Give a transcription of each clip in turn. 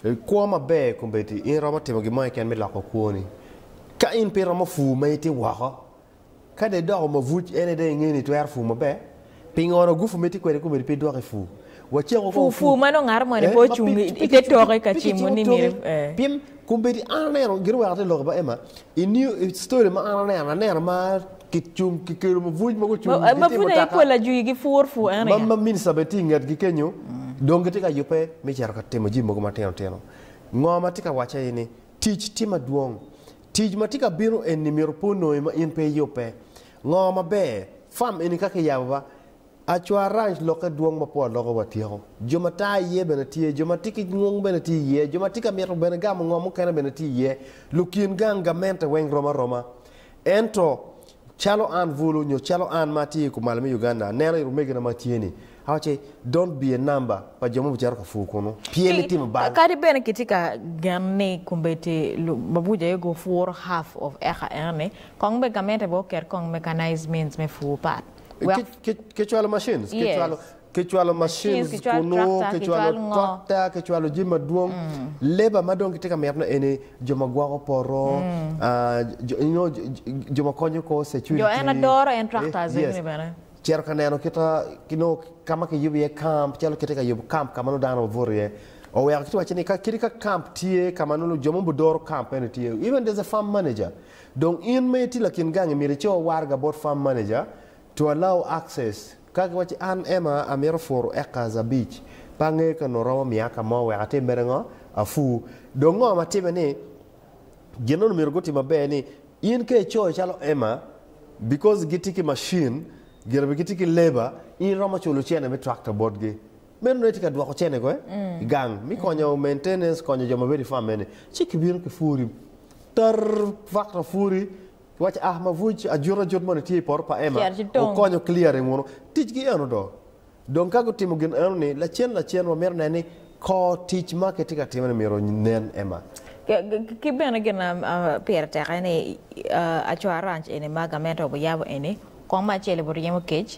I kwo maber kombeddi in iromo timo gin mo keken me loko kwoni. Ka in pe iromo pur ma itye woko, ka dong idoko mabuc en aye dong ingeyo ni itwero pur maber. Pingo-nu gupu ma itye kwede kombeddi pe idwoko i pur? Wacek woko Pur, pur ma nongo aromo ni pe ocung i te toke ka cimo ni myero, ee. Pe kicimo toke, ee. Pien kombeddi an aneno, gin wek ati lok i bot Emma, i new, i story ma an aneno, aneno ma. Kicung ki kelo mabuc mogo ocung gitye mutoka. Mabuc aye pol ajwi gi pur pu en aye. Ma minista bene tye i ngetgi kenyo dong gitye ka yubbe me cito ka timo jami mogo matino tino. Ngo ma atye ka wace aye ni tic tye madwong. Tic ma tye ka bino eni myero pe onongi ma in pe iyubbe. Ngo maber, farm eni ka kiyabo ba, Acwar Ranch lokke dwong ma po aloka wa tyeko. Jo ma taa iye bene tye, jo ma tye ki ngung bene tye iye, jo ma tye ka mito bene gamo ngo mukene bene tye iye. Lukin gang gamente weng rom aroma. Ento, calo an bulu, nyo calo an ma atye i kumalo me Uganda aneno i lumegina ma tye ni, awacce, don't be a number pa jo ma obicito ka pur kunu, pye me timo bal. Kadi bene kitye ka gen ni kombeddi lubabuja aye gupuro half of acre eno ni, kong bene gamente bene oket kong mechanized means me pur pat. Wek kicwalo macin kicwalo macin kunu kicwalo tractor kicwalo jami madwong labour ma dong kitye ka mito eni jo ma gwoko poto nyo jo ma konyo kor security jo en adoro en tractor eni bene cito ka neno kita nongo ka ma kiyubo iye camp calo kitye ka yubo camp ka ma nongo dano obuto iye oweko kiti wacci ni kadi ka camp tye ka ma nongo jo ma gudoro camp eni tye even there's a farm manager Dong in ma itye lakin gang imito icor waraga bot farm manager to allow access ka giwacci an Emma amito puru acres abic pe angeyo ka onongo romo miya ka mo wek atim mere ngo apur dong ngo ma time ni gin nono myero gutim maber ni in ka icoyo calo Emma because gitye ki machine gire bene gitye ki labour in iromo culo cene me tractor botgi Meno nongo itye ka dwoko cenego i gang me konyo maintenance, konyo jo ma bedo i farm eni, ci kibino ki puri tarr, tractor puri, kiwaco ah mabuc ajut ajut moni tye i poto pa Emma, Cito ci tong. wukonyo clearing wunu. Ticgi eno do. Dong ka gutimo gin eno ni lacen lacen wamito neno ni kor tic ma kitye ka timone myero nen Emma. Ki- ki- Ki bene gin ma ah, pire tek aye ni ah, aco aranc eni ma gamente obiyabo eni, kong me acel obiryemo kec,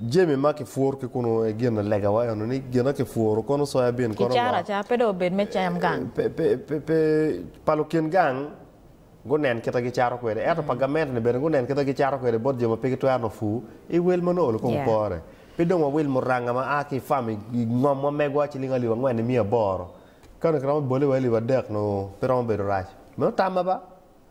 Jami ma kipwuru ki kunu aye gin legawa eno ni gin ma kipwuru kono soya bin kono Kicaro acara pe dong obed me cam gang. Pe, pa lukin gang gunen kite gicato kwede, ento pa gamente-ni bene gunen kite gicato kwede bot jo ma pe gitwero nongo pur. I wel ma nongo Olokong pore, pe dong wawil muranga ma a ki i fam i ngomwa megwa ciling alip angwen nimiya aboro. Ka onongo kiromo bole wa i alip adek nongo pe romo bedo rac. Meno tamma ba.